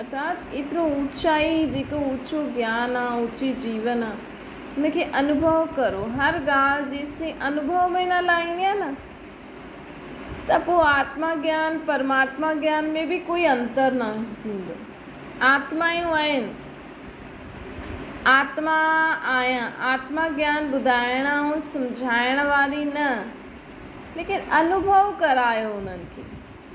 ارٿات ايترو اوچائي جيڪو اوچو گيان آ اوچي جيون آ ان کي انوڀو ڪرو هر ڳالهه جيسين انوڀو ۾ نه لائيندين نه ته پوء آتما گيان پرماتما گيان ۾ به ڪوئي انتر نه ٿيندو آتمايون آهن آتما آهيان آتما گيان ٻڌائڻ ۽ سمجهائڻ واري نه ليڪن انوڀو ڪرايو انهن کي.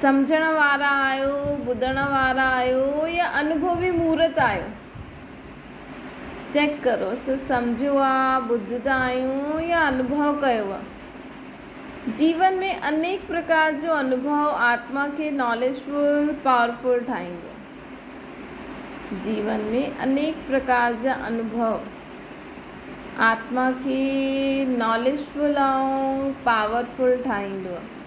سمجهڻ وارا آهيو، ٻڌڻ وارا آهيو يا انڀوي مورت آهيو؟ چيڪ ڪرو سو سمجهيو آ، ٻڌدا آهيون يا انڀو ڪيو آ؟ جيون ۾ انيڪ پرڪار جو انڀو آتما کي ناليج فل، پاور فل ٺاهيندو آ. جيون ۾ انيڪ پرڪار جا انڀو آتما کي ناليج فل ۽ پاور فل ٺاهيندو آ.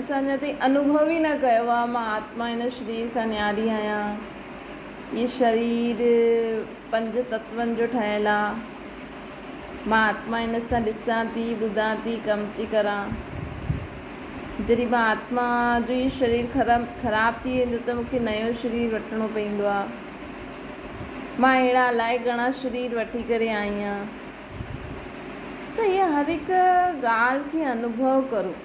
اسان اڃا تائين انوڀو ئي نه ڪيو آهي مان آتما هن شرير کان نياري آهيان. هي شرير پنج تتون جو ٺهيل آهي. مان آتما هن سان ڏسان ٿي، ٻڌان ٿي، ڪم ٿي ڪران. جڏهن مان آتما جو هي شرير خراب ٿي ويندو ته مون کي نيون شرير وٺڻو پوندو آهي. مان اهڙا الائي گهڻا شرير وٺي ڪري آئي آهيان. ته هيء هر هڪ ڳالهه کي انوڀو ڪرو.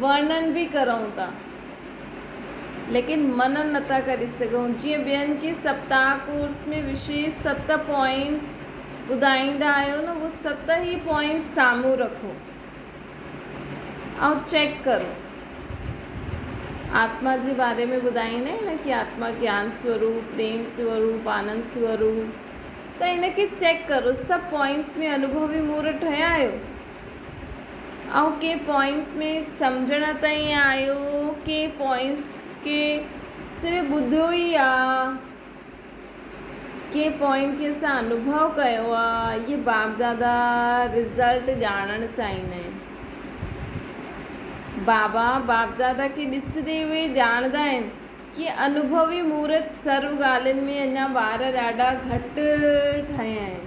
ورنن به ڪرون ٿا ليڪن منعن نٿا ڪري سگهون جيئن ٻين کي سپتاهه ڪورس ۾ وشيش ست پوائنٽس ٻڌائيندا آهيو نه اهي ست ئي پوائنٽس سامهون رکو ۽ چيڪ ڪرو آتما جي باري ۾ ٻڌائيندا آهن نه ڪي آتما گيان سوروپ پريم سوروپ آنند سوروپ ته ان کي چيڪ ڪرو سڀ پوائنٽس ۾ انوڀوي مور ٺهيا آهيو آئون ڪي پوائنٽس ۾ سمجهڻ ته ائين آيو ڪي پوائنٽس کي صرف ٻڌو ئي آ ڪي پوائنٽ کي اسان انوڀو ڪيو آ اهي باب دادا رزلٽ ڄاڻڻ چاهيندا آهن بابا باب دادا کي ڏسندي اهي ڄاڻندا آهن ڪي انوڀوي مورت سرو ڳالهين ۾ اڃا ٻار ڏاڍا گهٽ ٺهيا آهن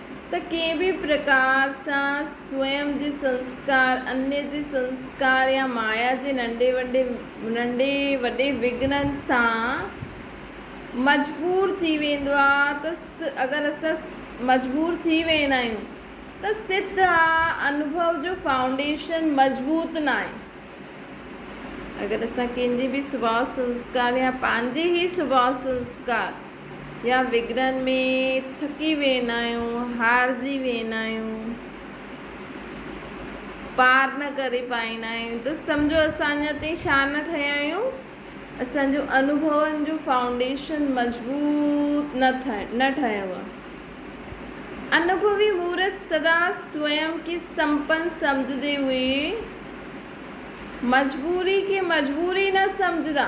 ته ڪنهن به پرڪار سان سوئم جي سنسڪار، انيء جي سنسڪار يا مايا جي ننڍي ننڍي وڏي وگهڻن سان مجبور ٿي ويندو آ ته اگر اسان مجبور ٿي ويندا آهيون ته سڌ آ انوڀو جو فائونڊيشن مضبوط ناهي. اگر اسان ڪنهن جي به سڀاء سنسڪار يا پنهنجي ئي سڀاء سنسڪار. يا وگڙن ۾ ٿڪي ويندا آهيون، هارجي ويندا آهيون، پار نه ڪري پائيندا آهيون ته سمجهو اسان اڃا تائين شاهه نه ٺهيا آهيون، اسان جون انوڀون جون فائونڊيشن مضبوط نه ٺهيو آهي. انوڀوي مورت سدا سوئم کي سمپن سمجهندي هئي، مجبوري کي مجبوري نه سمجهندا.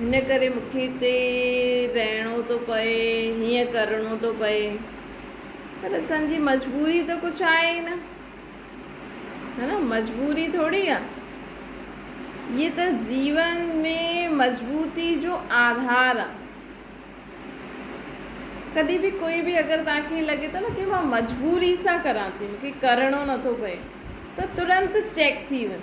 هن ڪري مون کي هتي رهڻو ٿو پئي، هيئن ڪرڻو ٿو پئي. پر اسان جي مجبوري ته ڪجهه آهي ئي نه. ها نه مجبوري ٿوري آ. هيء ته جيون ۾ مضبوطي جو آڌار آ. ڪڏهن به ڪوئي به اگر توهان کي لڳي ٿو نه ڪي مان مجبوري سان ڪران ٿي مون کي ڪرڻو نه ٿو پئي ته ترنت چيڪ ٿي وڃ.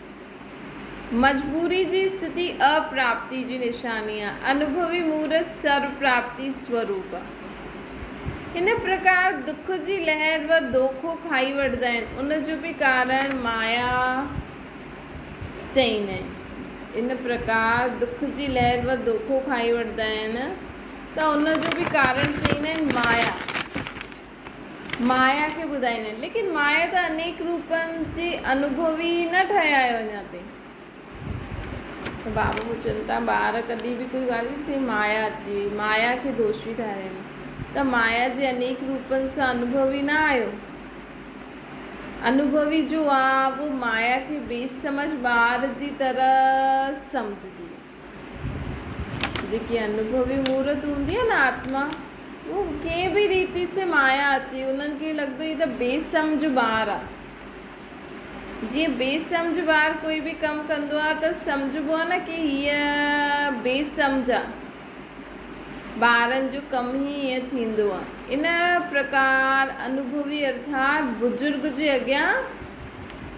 مجبوري جي سڌي اپراپتي جي نشاني آهي. انوڀوي مورت سرو پراپتي سوروپ. هن پرڪار دک جي لهر و دوکو کائي وٺندا آهن. ان جو به ڪارڻ مايا چئين آهي. ان پرڪار دک جي لهر و دوکو کائي وٺندا آهن ته ان جو به ڪارڻ چئين آهن مايا. مايا کي ٻڌائيندا آهن. ليڪن مايا ته انيڪ روپن جي انوڀوي ئي نه ٺهي آهي اڃا تائين. ته بابا پڇن ٿا ٻار ڪڏهن به ڪوئي ڳالهه ڪري ته مايا اچي وئي، مايا کي دوشي ٺاهرايون ته مايا جي انيڪ روپن سان انوڀوي نه آهيو. انوڀوي جو آهه اهو مايا کي بيسمجهه ٻار جي طرح سمجهندي. جيڪي انوڀوي مورت هوندي آهي نه آتما اهو ڪنهن به ريتي سي مايا اچي انهن کي لڳندو هي ته بي سمجهه ٻار آهي جيئن بي سمجهه ٻار ڪوئي به ڪم ڪندو آهي ته سمجهبو آهي نه ڪي هيء بي سمجهه آهي ٻارن جو ڪم هي ائين ٿيندو آهي ان پرڪار انوڀوي ارٿات بزرگ جي اڳيان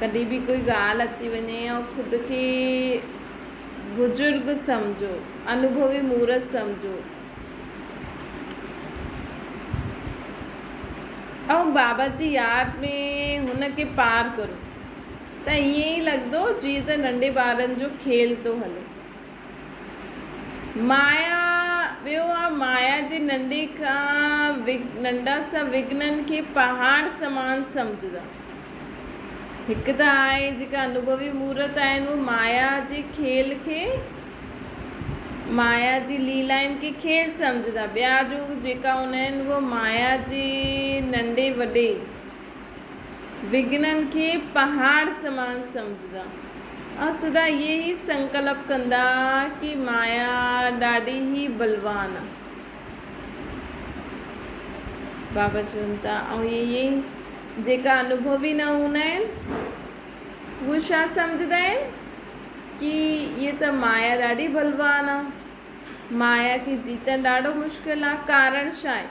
ڪڏهن به ڪوئي ڳالهه اچي وڃي يا خود کي بزرگ سمجهو، انوڀوي مورت سمجهو. ۽ بابا جي ياد ۾ هن کي پار ڪرو ته ائين ئي لڳندو جيئن ته ننڍي ٻارن جو کيل ٿو هلي. مايا ٻيو آ مايا جي ننڍي کان ننڍا سڀ وگهنن کي پهاڙ سمان سمجهندا. هڪ ته آء جيڪا انوڀوي مورت آهيان اهي مايا جي کيل کي مايا جي ليلائن کي کيل سمجهندا ٻيا جو جيڪا هوندا آهن اهي مايا جي ننڍي وڏي وگهنن کي پهاڙ سمان سمجهندا ۽ سدا اهي ئي سنڪلپ ڪندا ڪي مايا ڏاڍي ئي بلوان آ. بابا چون ٿا ۽ اهي ئي جيڪا انوڀوي نه هوندا آهن اهي ڇا سمجهندا آهن ڪي هيء ته مايا ڏاڍي بلوان آ. مايا کي جيتڻ ڏاڍو مشڪل آ. ڪارڻ ڇا آهي؟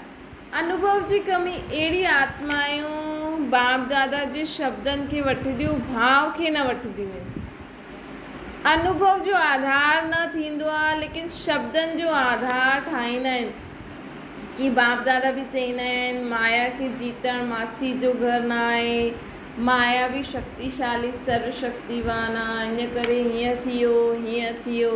انوڀو جي ڪمي اهڙي آتمائون باپ دادا جي شبدن کي وٺنديون ڀاء کي نه وٺنديون آهن. انوڀو جو آڌار نه ٿيندو آهي ليڪن شبدن جو آڌار ٺاهيندا آهن. ڪي باپ دادا به چئيندا آهن مايا کي جيتڻ ماسي جو گهر نه آهي، مايا به شڪتيشالي سرو شڪتيوان آهي ان ڪري هيئن ٿيو هيئن ٿيو.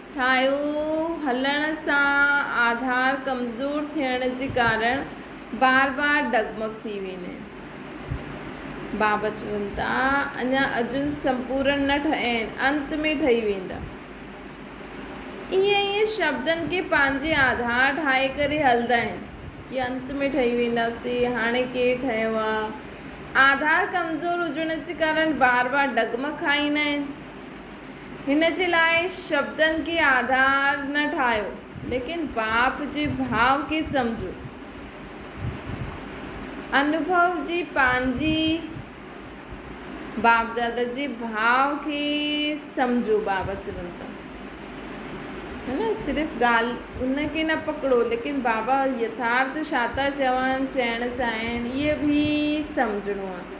ٺاهيو هلڻ سان آڌار ڪمزور ٿيڻ جي ڪارڻ بار بار ڊگمگ ٿي ويني بابت چون ٿا اڃا اجن سمپورن نه ٺهي آهن انت ۾ ٺهي ويندا ائين ائين شبدن کي پنهنجي آڌار ٺاهي ڪري هلدا آهن ڪي انت ۾ ٺهي ويندا سي هاڻي ڪير ٺهيو آ آڌار ڪمزور هجڻ جي ڪارڻ بار بار ڊگمگ کائيندا آهن. هن جي لاء شبدن کي آڌار نه ٺاهيو، ليڪن باپ جي ڀاء کي سمجهو. انوڀو جي پنهنجي باپ دادا جي ڀاء کي سمجهو بابا چون ٿا هي نه صرف ڳالهه ان کي نه پڪڙو ليڪن بابا يٿارٿ شاتا چون چئڻ چاهين اهي به سمجهڻو آهي.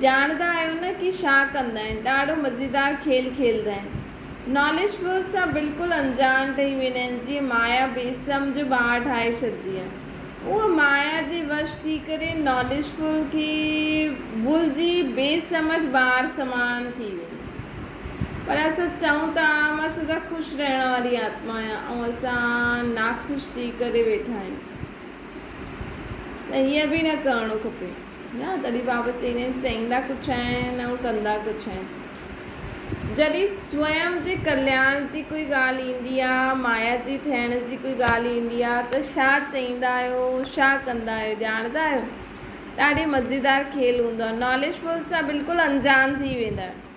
ڄاڻندا آهيو نه ڪي شا ڪندا آهن ڏاڙهو مزيدار کيل کيلدا آهن ناليج فول سان بلڪل انجاڻ ٺهي ويندا آهن جيئن مايا بي سمجهه ٻار ٺاهي ڇڏدي آهي اهو مايا جي وش ٿي ڪري ناليج فول کي ڀلجي بي سمجهه ٻار سمان ٿي ويندو آهي پر اسان چئون ته آء مان سدا خوش رهڻ واري آتما آهيان ۽ اسان ناخوش ٿي ڪري ويٺا آهيون ته هيئن به نه ڪرڻو کپي. نه تڏهن بابا چيني چئيندا ڪجهه آهن ۽ ڪندا ڪجهه آهن. جڏهن سوئم جي ڪلياڻ جي ڪوئي ڳالهه ايندي آ، مايا جي ٺهڻ جي ڪوئي ڳالهه ايندي آ ته شا چئيندا آهيو، شا ڪندا آهيو، ڄاڻندا آهيو؟ ڏاڍي مزيدار کيل هوندو آ. ناليج فل سان بلڪل انجان ٿي ويندا آهيو.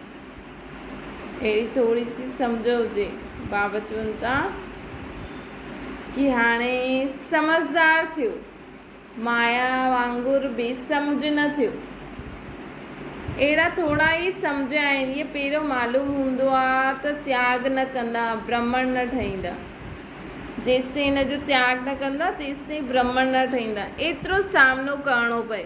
اهڙي ٿوري سي سمجهه هجي بابا چون ٿا ڪي هاڻي سمجهدار ٿيو مايا وانگر بي سمجهه نه ٿيو اهڙا ٿورا ئي سمجهه آهن اهي پيرو معلوم هوندو آ ته تياگ نه ڪندا برهمڻ نه ٺهيندا جيستائين هن جو تياگ نه ڪندا تيستائين برهمڻ نه ٺهيندا ايترو سامنو ڪرڻو پئي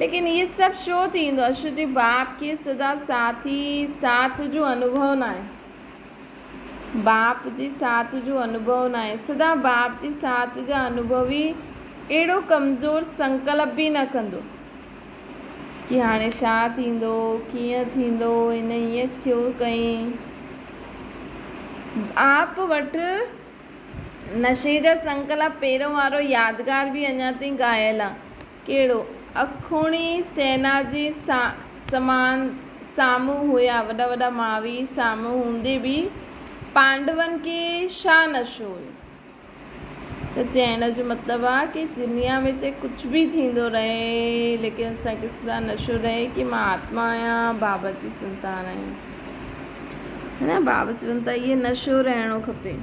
ليڪن اهي سڀ ڇو ٿيندو اشو جي باپ کي سدا ساٿي ساٿ جو انوڀو ناهي باپ جي ساٿ جو انوڀو ناهي سدا باپ جي ساٿ جا انوڀوي اهڙو ڪمزور سنڪلپ به نه ڪندو ڪي هاڻي شا ٿيندو ڪيئن ٿيندو هن ايئن ڇو ڪئين آپ وٽ نشي جا سنڪلپ پهريون وارو يادگار به اڃا تائين غائل آهي ڪهڙو؟ اکوڻي سينا جي سامان سامهون هيا، وڏا وڏا ماوي سامهون هوندي به پانڊون کي ڇا نشو هيو؟ ته چئڻ جو مطلب آ ڪي دنيا ۾ چاهي ڪجهه به ٿيندو رهي ليڪن اسان کي سدا نشو رهي ڪي مان آتما آهيان بابا جي سنتان آهيان ها نه بابا چون ٿا اهي نشو رهڻو کپي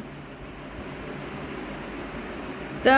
ته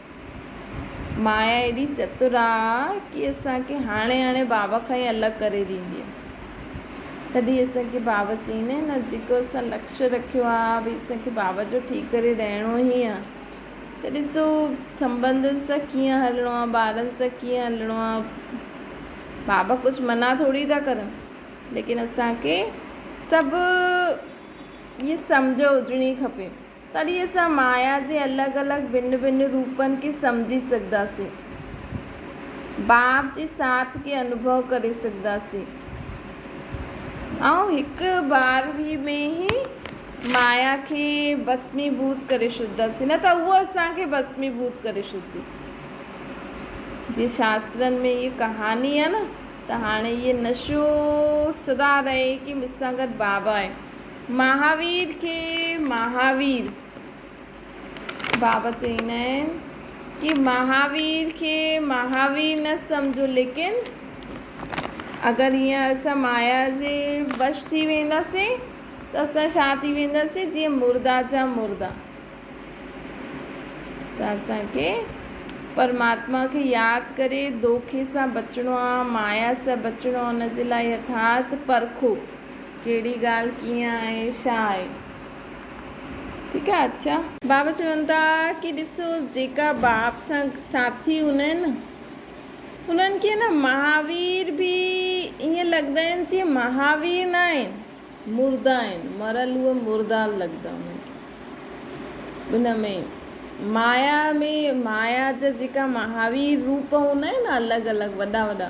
مايا ايڏي چتر آ ڪي اسان کي هاڻي هاڻي بابا کان ئي الڳ ڪري ڏيندي آ. تڏهن اسان کي بابا چئين آهي نه جيڪو اسان لڪش رکيو آ ڀئي اسان کي بابا جو ٺي ڪري رهڻو ئي آ ته ڏسو سنبنڌن سان ڪيئن هلڻو آ ٻارن سان ڪيئن هلڻو آ بابا ڪجهه منع ٿوري ٿا ڪرن ليڪن اسان کي سڀ ائين سمجهه هجڻي کپي. تڏهن اسان مايا جي الڳ الڳ ڀن ڀن روپن کي سمجهي سگهنداسين. باب جي ساٿ کي انوڀو ڪري سگهنداسين. آئون هڪ بار هي ۾ هي مايا کي ڀسمي ڀوت ڪري ڇڏنداسين نه ته اهو اسان کي ڀسمي ڀوت ڪري ڇڏندي. جيئن شاسترن ۾ هيء ڪهاڻي آهي نه ته هاڻي هيء نشو سدا رهي ڪي مس سان گڏ بابا آهي. مهاوير کي مهاوير بابا چويندا آهن ڪي مهاوير کي مهاوير نه سمجهو ليڪن اگر هيئن اسان مايا جي وش ٿي وينداسين ته اسان ڇا ٿي وينداسين جيئن مردا جا مردا ته اسان کي پرماتما کي ياد ڪري دوکي سان بچڻو آهي مايا سان بچڻو آهي ان جي لاء يٿارٿ پرکو ڪهڙي ڳالهه ڪيئن آهي ڇا آهي ٺيڪ آهي اڇا. بابا چون ٿا ڪي ڏسو جيڪا باپ سان ساٿي هوندا آهن نه انهن کي نه مهاوير به ائين لڳندا آهن جيئن مهاوير نه آهن مرده آهن مرل هو مرده لڳندا انهن کي ان ۾ مايا ۾ مايا جا جيڪا مهاوير روپ هوندا آهن نه الڳ الڳ وڏا وڏا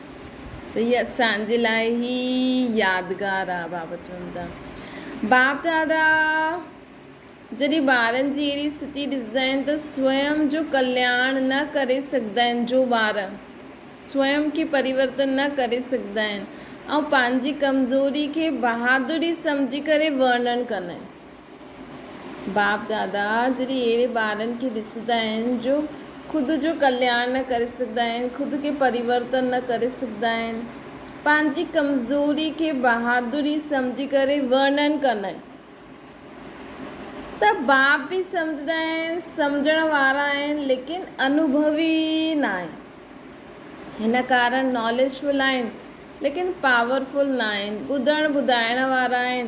ته هي اسان جي لاء ئي يادگار آ بابت چوندا باپ دادا جڏهن ٻارن جي اهڙي ستي ڏسندا آهن ته سوئم جو ڪلياڻ نه ڪري سگهندا آهن جو ٻار سوئم کي پريورتن نه ڪري سگهندا آهن ۽ پنهنجي ڪمزوري کي بهادري سمجهي ڪري ورنڻ ڪندا آهن. باپ دادا جڏهن اهڙي ٻارن کي ڏسندا آهن جو خود جو ڪلياڻ نه ڪري سگهندا آهن، خود کي پريورتن نه ڪري سگهندا آهن، پنهنجي ڪمزوري کي بهادري سمجهي ڪري ورنن ڪندا آهن ته باپ به سمجهندا آهن، سمجهڻ وارا آهن ليڪن انوڀوي ناهن. هن ڪارڻ ناليج فل آهن ليڪن پاور فل ناهن، ٻڌڻ ٻڌائڻ وارا آهن.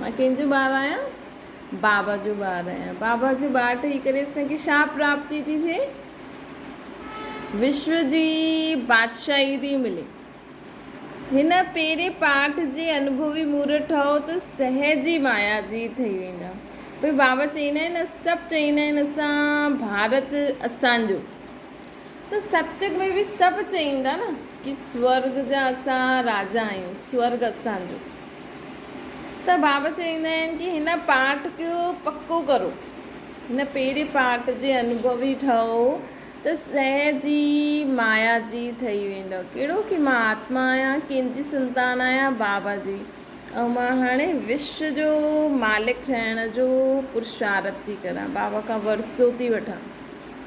مان ڪنهن جو ٻار آهيان؟ بابا جو ٻار آهيان. بابا جو ٻار ٺهي ڪري اسان کي ڇا پراپتي ٿي ٿئي؟ وشو جي بادشاهي ٿي ملي. هن پهرين پاٺ جي انڀوي مورت ٺهو ته سهج ئي مايا جي ٺهي ويندا. پر بابا چئيندا آهن نه سڀ چئيندا آهن اسان ڀارت اسان جو. ته سپتڪ ۾ به سڀ چين ٿا نه ڪي سورڳ جا اسان راجا آهيون سورڳ اسان جو ته بابا چئيندا آهن ڪي هن پاٺ کي پڪو ڪرو هن پهرين پاٺ جي انوڀوي ٺهو ته سهج ئي مايا جي ٺهي ويندو ڪهڙو ڪي مان آتما آهيان ڪنهن جي سنتان آهيان بابا جي ۽ مان هاڻي وش جو مالڪ ٺهڻ جو پرشارت ٿي ڪريان بابا کان ورثو ٿي وٺان.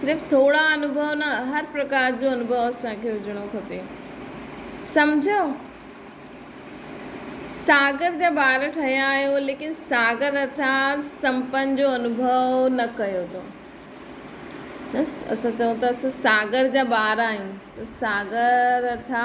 صرف ٿورا انوڀو نه هر پرڪار جو انوڀو اسان کي هجڻو کپي سمجهيو ساگر جا ٻار ٺهيا آهيو ليڪن ساگر اٿا سمپن جو انوڀو نه ڪيو اٿو بس اسان چون ٿا اسان ساگر جا ٻار آهيون ته ساگر اٿا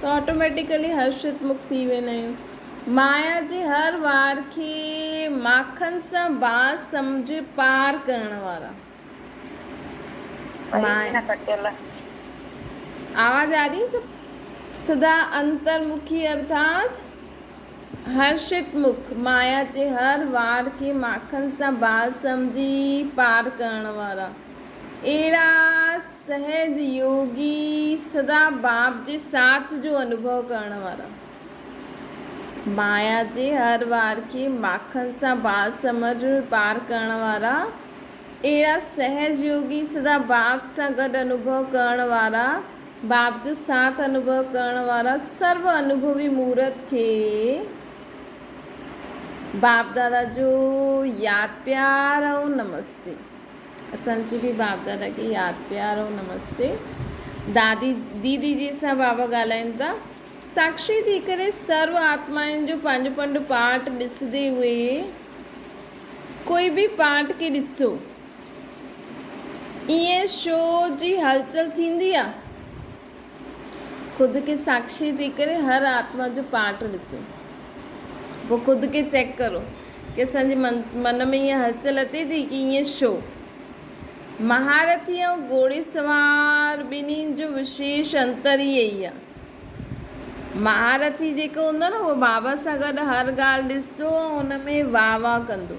ته آٽوميٽيڪلي هرشت مک ٿي ويندا آهيون. مايا جي هر وار کي ماکن سان باس سمجهي پار ڪرڻ وارا. مايا آواز آ رهي سڀ سڌا انتر مکي ارٿات هرشت مک مايا جي هر وار کي ماکن سان باس سمجهي پار ڪرڻ وارا اهڙا سهج يوگي سدا باب جي ساٿ جو انوڀو ڪرڻ وارا. مايا جي هر وار کي ماکڻ سان بال سمنڊ پار ڪرڻ وارا. اهڙا سهج يوگي سدا باب سان گڏ انوڀو ڪرڻ وارا، باب جو ساٿ انوڀو ڪرڻ وارا سرو انوڀوي مورت کي باب دادا جو ياد پيار ۽ نمستي. اسان جي به باب دادا کي ياد پيار ۽ نمستي. دادي ديدي جي سان بابا ڳالهائين ٿا. ساکشي ٿي ڪري سرو آتمائن جو پنهنجو پنهنجو پارٽ ڏسندي هئي. ڪوئي به پارٽ کي ڏسو. ائين شو جي هلچل ٿيندي آ. خود کي ساکشي ٿي ڪري هر آتما جو پارٽ ڏسو پوء خود کي چيڪ ڪرو ڪي اسان جي من ۾ اها هلچل اچي ٿي ڪي ائين شو؟ مهارٿي ۽ گهوڙي سوار ٻنهي جو وشيش انتر ئي اهي آهي. مهارٿي جيڪو هوندو آهي نه اهو بابا سان گڏ هر ڳالهه ڏسندو ۽ ان ۾ واهه واهه ڪندو.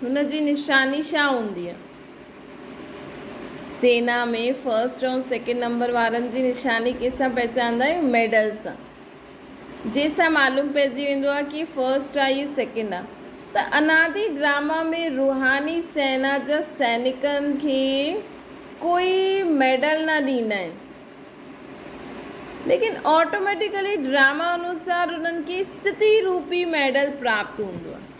هن جي نشاني ڇا هوندي آهي؟ سينا ۾ فرسٽ ۽ سيڪنڊ نمبر وارن جي نشاني ڪنهن سان پهچاندا آهيون؟ ميڊل سان. جنهن سان معلوم پئجي ويندو آهي ڪي فرسٽ آهي يا سيڪنڊ آهي. ته انادي ڊراما ۾ روحاني سينا جا سينيڪن کي ڪوئي ميڊل نه ڏيندا آهن. ليڪن آٽوميٽيڪلي ڊراما انوسار انهن کي استتي روپي ميڊل پراپت هوندو آهي.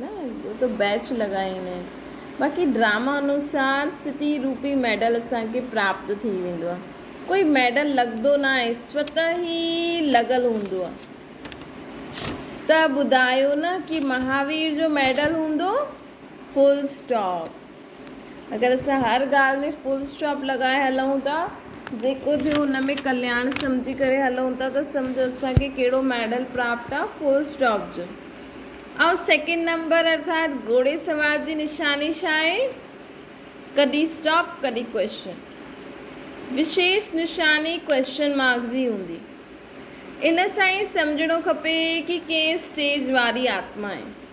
نه اهو ته بيچ لڳائين ۽ باقي ڊراما انوسار سٿي روپي ميڊل اسان کي پراپت ٿي ويندو آهي ڪوئي ميڊل لڳندو نه آهي سوت ئي لڳل هوندو آهي ته ٻڌايو نه ڪي مهاوير جو ميڊل هوندو فل اسٽاپ. اگر اسان هر ڳالهه ۾ فل اسٽاپ لڳائي هلون ٿا، جيڪو ٿيو ان ۾ ڪلياڻ سمجهي ڪري هلون ٿا ته سمجهه اسان کي ڪهڙو ميڊل پراپت آ فل اسٽاپ جو. ۽ سيڪنڊ نمبر ارٿات گهوڙي سوار جي نشاني ڇا آهي؟ ڪڏهن اسٽاپ ڪڏهن ڪويشچن. وشيش نشاني ڪويشچن مارڪ جي هوندي. ان سان ئي سمجهڻو کپي ڪي ڪنهن اسٽيج واري آتما آهي.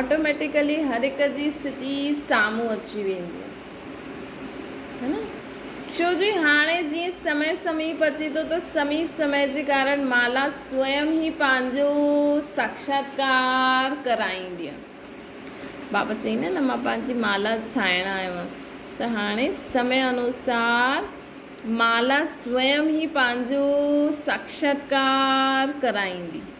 آٽوميٽيڪلي هر هڪ جي اسٿتي سامهون اچي ويندي آهي ڇو جو هاڻي جيئن سمي سميپ اچي ٿو ته سميپ سمي جي ڪارڻ مالا سوئم هي پنهنجو ساکشاتڪار ڪرائيندي آهي بابا چئي نه نه مان پنهنجي مالا ٺاهڻ آيو آهيان ته هاڻي سمي انوسار مالا سوئم هي پنهنجو ساکشاتڪار ڪرائيندي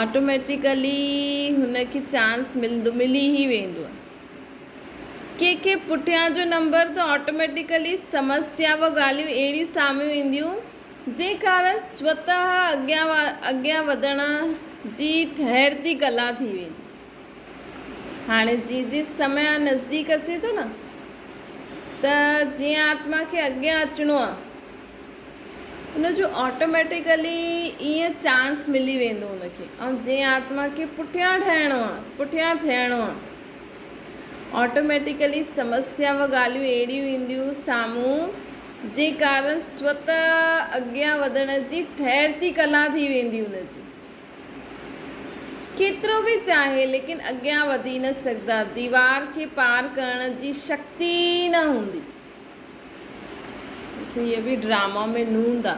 آٽوميٽيڪلي هن کي چانس ملندو ملي ئي ويندو آهي. ڪنهن کي پٺيان جو نمبر ته آٽوميٽيڪلي سمسيا و ڳالهيون اهڙيون سامهون اينديون جنهن ڪارڻ سوتهه اڳيان اڳيان وڌڻ جي ٺهرتي ڪلا ٿي ويندي. هاڻي جيئن جيئن سميا نزديڪ اچي ٿو نه ته جيئن آتما کي اڳيان اچڻو آهي ان جو آٽوميٽيڪلي ائين چانس ملي ويندو ان کي ۽ جنهن آتما کي پٺيان ٺهڻو آهي پٺيان ٿيڻو آهي آٽوميٽيڪلي سمسيا و ڳالهيون اهڙيون اينديون سامهون جي ڪارڻ سوت اڳيان وڌڻ جي ٺهرتي ڪلا ٿي ويندي ان جي ڪيترو به چاهي ليڪن اڳيان وڌي نه سگهندا ديوار کي پار ڪرڻ جي شڪتي نه هوندي هيء به ڊراما ۾ نوند آ.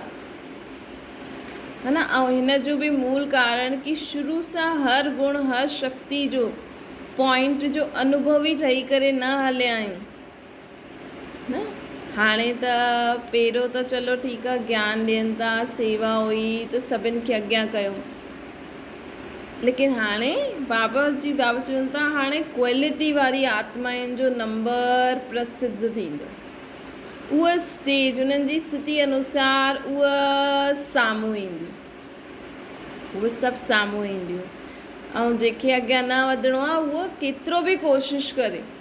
ها نه ۽ هن جو به مول ڪارڻ ڪي شروع سان هر گڻ هر شڪتي جو پوائنٽ جو انوڀوي ٺهي ڪري نه هليا آهيون نه هاڻي ته پهريون ته چلو ٺيڪ آ گيان ڏين ٿا سيوا هئي ته سڀن کي اڳيان ڪيو ليڪن هاڻي بابا جي بابا چون ٿا هاڻي ڪوالٽي واري آتمائن جو نمبر پرسڌ ٿيندو اهو اسٽيج انهن جي ستي انوسار اهو سامهون ايندي اهو سڀ سامهون اينديون ۽ جنهن کي اڳيان نه وڌڻو آهي اهو ڪيترو به ڪوشش ڪري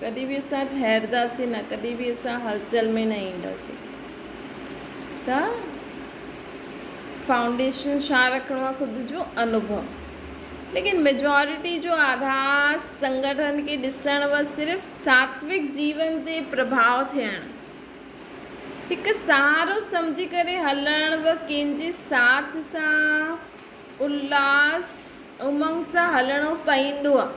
ڪڏهن به اسان ٺهرداسين نه، ڪڏهن به اسان هلچل ۾ نه اينداسين. ته فائونڊيشن ڇا رکڻو آهي خود جو انوڀو. ليڪن ميجارٽي جو آڌار سنگٺن کي ڏسڻ و صرف ساتويڪ جيون تي پرڀاء ٿيڻ، هڪ سهارو سمجهي ڪري هلڻ و ڪنهن جي ساٿ سان الهاس امنگ سان هلڻو پئيندو آهي.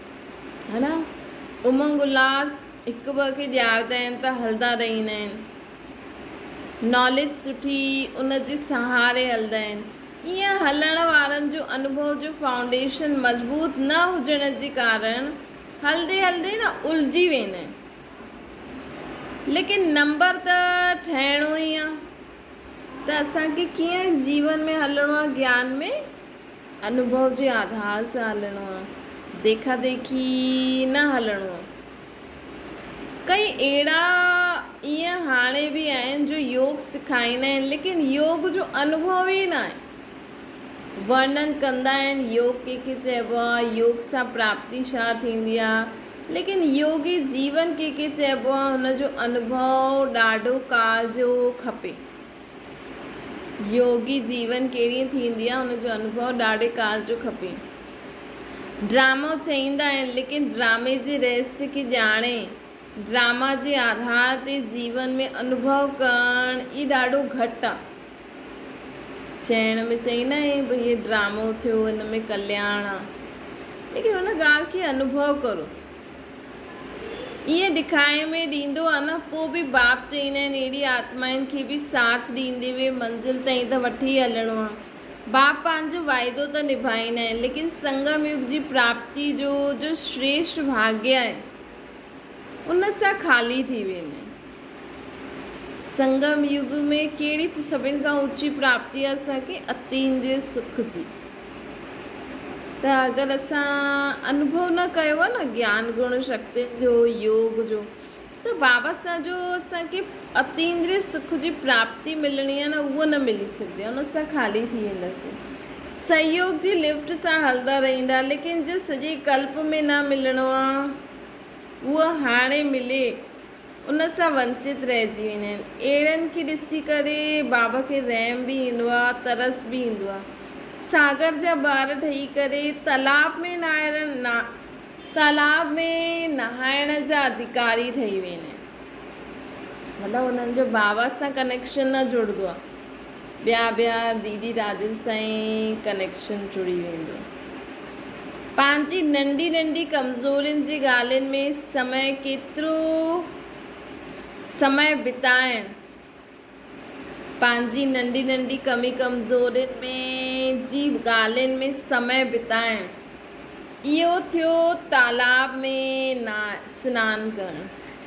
ھن امنگ الھاس ھڪ ٻئي کي ڄاڻدا آھن ته ھلندا رھي ايندا آھن ناليج سٺي ان جي سھاري ھلندا آھن ايئن ھلڻ وارن جو انوڀو جو فائونڊيشن مضبوط نه ھجڻ جي ڪارڻ ھلندي ھلندي نه الجھي ويندا آھن ليڪن نمبر ته ٺھڻو ئي آھي ته اسان کي ڪيئن جيون ۾ هلڻو آهي گيان ۾ انوڀو جي آڌار سان هلڻو آهي ديکا ديکي نه هلڻو آهي ڪئي اهڙا ايئن هاڻي به آهن جو يوگ سکائيندا آهن ليڪن يوگ جو انوڀو ئي ناهي ورنن ڪندا آهن يوگ ڪنهن کي چئبو آهي يوگ سان پراپتي ڇا ٿيندي آهي ليڪن يوگي جيون ڪنهن کي چئبو آهي ان جو انڀو ڏاڍو ڪال جو کپي يوگي جيون ڪهڙي ٿيندي آهي ان جو انڀو ڏاڍي ڪال جو کپي ڊرامو چئيندا آهن ليڪن ڊرامي جي رهسي کي ڄاڻي ڊراما جي آڌار تي جيون ۾ انڀو ڪرڻ ئي ڏاڍو گهٽ آهي چيڻ ۾ چئي نه هي به هي ڊرامو ٿيو هن ۾ ڪلياڻ آ ليڪن ان ڳالهه کي انوڀو ڪرو ائين ڏکائي ۾ ڏيندو آ نه پو به باب چئيندا آهن اهڙي آتمائن کي به ساٿ ڏيندي وي منزل تائين ته وٺي هلڻو آ باب پنهنجو وعدو ته نڀائيندا آهن ليڪن سنگم يگ جي پراپتي جو جو شريشٽ ڀاڳيا آهن ان سان خالي ٿي ويندا آهن. سنگم يگ ۾ ڪهڙي سڀن کان اوچي پراپتي آهي اسان کي اتيندري سک جي ته اگر اسان انوڀو نه ڪيو آهي نه گيان گڻ شڪتين جو يوگ جو ته بابا سان جو اسان کي اتيندري سک جي پراپتي ملڻي آهي نه اهو نه ملي سگهندي ان سان خالي ٿي وينداسين سهيوگ جي لفٽ سان هلندا رهيندا ليڪن جو سڄي ڪلپ ۾ نه ملڻو آهي اهو هاڻي ملي ان سان ونچت رهجي ويندا آهن. اهڙن کي ڏسي ڪري بابا کي رحم به ايندو آهي ترس به ايندو آهي. ساگر جا ٻار ٺهي ڪري تالاب ۾ تالاب ۾ نهائڻ جا اڌڪاري ٺهي ويندا آهن. مطلب انهن جو بابا سان ڪنيڪشن نه جڙندو آهي. ٻيا ٻيا ديدي دادين سان ئي ڪنيڪشن جڙي ويندو. پنهنجي ننڍي ننڍي ڪمزورين جي ڳالهين ۾ سمهي ڪيترو سمهي بتائڻ، پنهنجي ننڍي ننڍي ڪمي ڪمزورين ۾ جي ڳالهين ۾ سمهي بتائڻ، اهو ٿيو تالاب ۾ سنان ڪرڻ.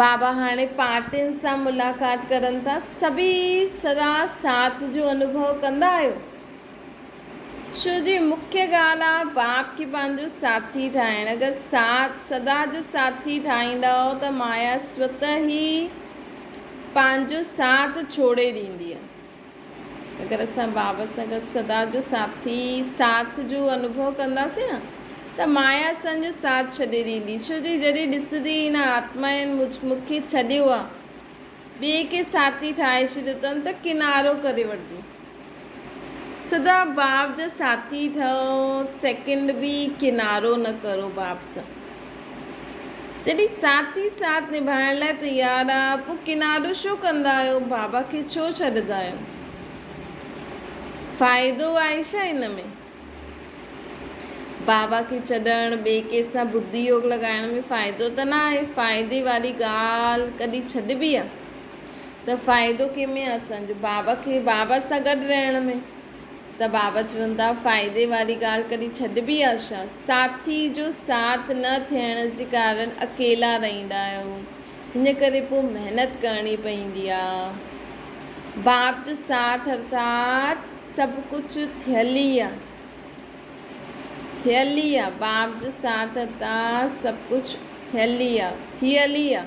بابا هاڻي پارٽين سان ملاقات ڪرن ٿا، سڀئي سدا ساٿ جو انوڀو ڪندا آهيو ڇو جي مکيه ڳالهه آهي باب کي پنهنجو ساٿي ٺاهڻ، اگر ساٿ سدا جو ساٿي ٺاهيندا ته مايا سوته ئي پنهنجو ساٿ ڇوڙي ڏيندي. اگر اسان بابا سان گڏ سدا جو ساٿي ساٿ جو انوڀو ڪنداسين نه ته مايا اسان جو ساٿ ڇڏي ڏيندي ڇو جو جڏهن ڏسندي هن آتمائن مون کي ڇڏيو آ ٻئي کي ساٿي ٺاهي ڇڏيو تن ته ڪنارو ڪري وٺندي سدا باب جا ساٿي ٺهو سيڪنڊ به ڪنارو نه ڪرو باب سان. جڏهن ساٿي ساٿ نڀائڻ لاء تيار آ پو ڪناڊو شو ڪندا آهيو بابا کي ڇو ڇڏدا آهيو فائدو آهي ڇا ان ۾ بابا کي ڇڏڻ ٻي ڪي سان بدي يوگ لڳائڻ ۾ فائدو ته نه آهي فائدي واري ڳالهه ڪڏهن ڇڏبي آ ته فائدو ڪي ۾ آ اسان جو بابا کي بابا سان گڏ رهڻ ۾ ته بابا چون ٿا فائدي واري ڳالهه ڪڏهن ڇڏبي آهي ڇا؟ ساٿي جو ساٿ نه ٿيڻ جي ڪارڻ اڪيلا رهندا آهيو ان ڪري پوء محنت ڪرڻي پوندي آهي. باب جو ساٿ ارٿات سڀ ڪجهه ٿيل ئي آهي ٿيل ئي آهي باب جو ساٿ ارٿات سڀ ڪجهه ٿيل ئي آهي ٿيل ئي آهي.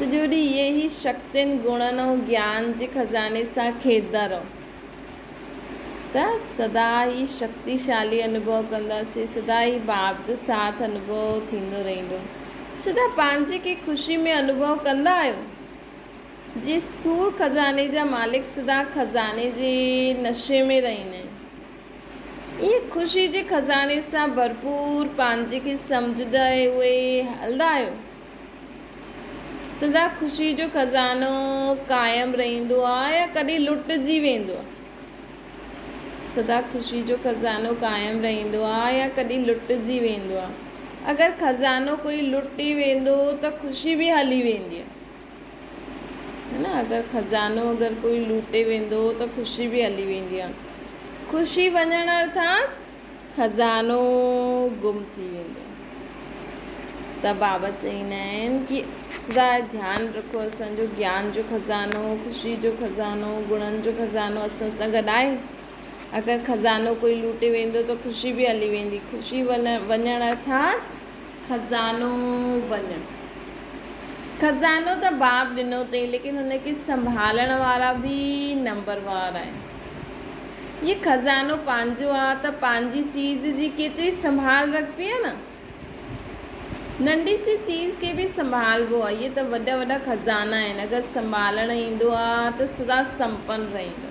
سڄو ڏينهن اهي ئي شڪتين، گڻن ۽ گيان جي خزاني سان کيڏندا رهو ته سدا ئي شڪتيشالي انوڀو ڪنداسين، سدا ئي باب جو ساٿ انوڀو ٿيندو رهندو، سدا پنهنجي کي خوشي ۾ انوڀو ڪندا آهيو. جي اسٿور خزاني جا مالڪ سدا خزاني جي نشي ۾ رهندا آهن. ايئن خوشي جي خزاني سان ڀرپور پنهنجي کي سمجهندا اهي هلندا آهيو. سدا خوشي جو خزانو قائم رهندو آهي يا ڪڏهن لٽجي ويندو آهي؟ سدا خوشي جو خزانو قائم رهندو آهي يا ڪڏهن لٽجي ويندو آهي؟ اگر خزانو ڪوئي لٽي ويندو ته خوشي به هلي ويندي. ھي نه اگر خزانو اگر ڪوئي لوٽي ويندو ته خوشي به ھلي ويندي آ خوشي وڃڻ ارٿات خزانو گم ٿي ويندو ته بابا چئين آھن ڪي سدا ڌيان رکو اسان جو گيان جو خزانو خوشي جو خزانو گڻن جو خزانو اسان سان گڏ آھي اگر خزانو ڪوئي لوٽي ويندو ته خوشي به ھلي ويندي خوشي وڃڻ ارٿات خزانو وڃ خزانو ته باب ڏنو اٿئي ليڪن ان کي سنڀالڻ وارا به نمبروار آهن هي خزانو پنهنجو آ ته پنهنجي چيز جي ڪيتري سنڀال رکبي آ نه ننڍي سي چيز کي به سنڀالبو آ هي ته وڏا وڏا خزانا آهن اگر سنڀالڻ ايندو آ ته سدا سمپن رهندو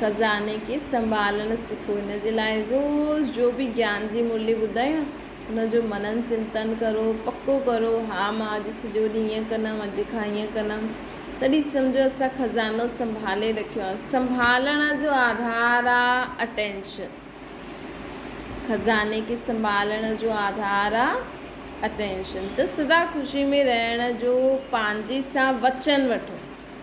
خزاني کي سنڀالڻ سکو ان جي لاء روز جو به گيان جي مرلي ٻڌايو ان جو منن چنتن ڪرو پڪو ڪرو ها مان اڄ سڄو ڏينهن ايئن ڪندم اڄ کان ايئن ڪندم تڏهن سمجهو اسان خزانو سنڀالي رکيو آهي سنڀالڻ جو آڌار آهي اٽينشن خزاني کي سنڀالڻ جو آڌار آهي اٽينشن ته سدا خوشي ۾ رهڻ جو پنهنجي سان وچن وٺو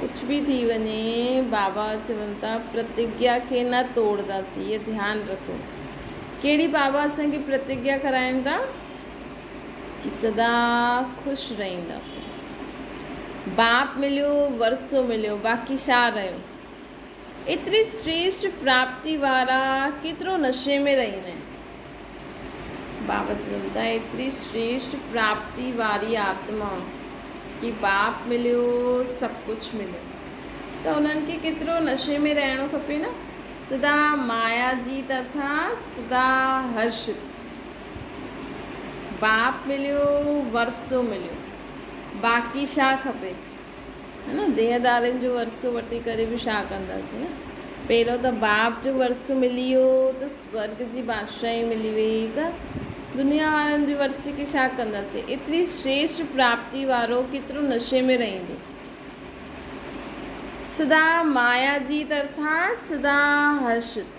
ڪجهه به ٿي وڃي بابا چون ٿا پرتگيا کي نه ٽوڙداسين هيء ڌيان رکو. ڪهڙي بابا اسان کي پرتگيا کارائين ٿا جو سدا خوش رهنداسين. باپ مليو ورثو مليو باقي شا رهيو. ايتري سريشٽ پراپتي وارا ڪيترو نشي ۾ رهي هن بابت چيو ته ايتري سريشٽ پراپتي واري آتما کي پاپ مليو سڀ ڪجهه مليو ته انهن کي ڪيترو نشي ۾ رهڻو کپي نه سدا مايا جي طرفان سدا هرشت باب مليو ورثو مليو باقي ڇا کپي. ديهدارين جو ورثو وٺي ڪري به ڇا ڪنداسين نه؟ پهريون ته باپ جو ورثو ملي ويو ته سورڳ جي بادشاهي ملي ويئي ته دنيا وارن جي ورثي کي ڇا ڪنداسين؟ ايتري شريشٽ پراپتي وارو ڪيترو نشي ۾ رهندو؟ سدا مايا جي طرفان سدا هرشت.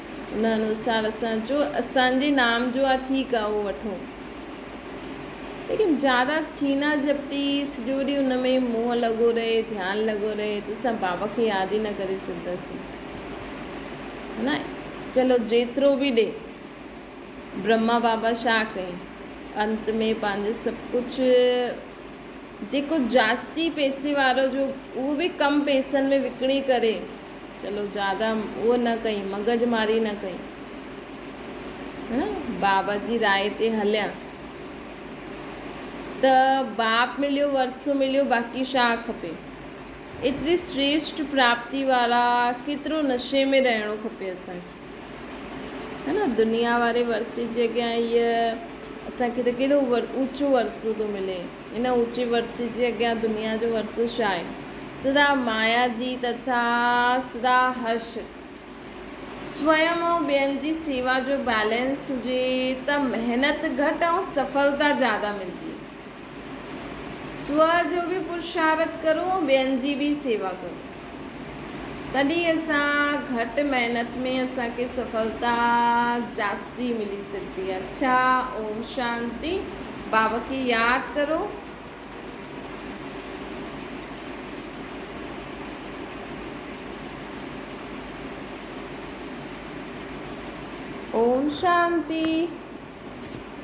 ان انوسار اسان جو اسان جي نام جو آ ٺيڪ آ اهو وٺو ليڪن زياده ڇينا جهپٽي سڄو ڏينهن ان ۾ منهن لڳو رهي ڌيان لڳو رهي ته اسان بابا کي ياد ئي نه ڪري سگهنداسين ها نه چلو جيترو به ڏي برهما بابا شا ڪيائين انت ۾ پنهنجو سڀ ڪجهه جيڪو جاستي پيسي وارو جو اهو به ڪم پيسن ۾ وڪڻي ڪري چلو زياده اهو نه ڪئين، مغز ماري نه ڪئين. هن باب جي راء تي هليان ته باب مليو، ورثو مليو، باقي شاهه کپي. ايتري سريشٽ پراپتي وارا ڪيترو نشي ۾ رهڻو کپي اسان کي. هن دنيا واري ورثي جي اڳيان هيء اسان کي ته ڪيڏو اوچو ورثو ٿو ملي. ان اوچي ورسي جي اڳيان دنيا جو ورسو ڇا آهي؟ سدا مايا جي تٿا سدا هرش سويم ۽ ٻين جي سيوا جو بيلنس هجي ته محنت گهٽ ۽ سڦلتا زياده ملدي. سوء جو به پرشارٿ ڪرو ۽ ٻين جي به سيوا ڪرو. تڏهن اسان گهٽ محنت ۾ اسان کي سڦلتا جاستي ملي سگهندي آهي ڇا اوم شانتي بابا کي ياد ڪرو اوم شانتي.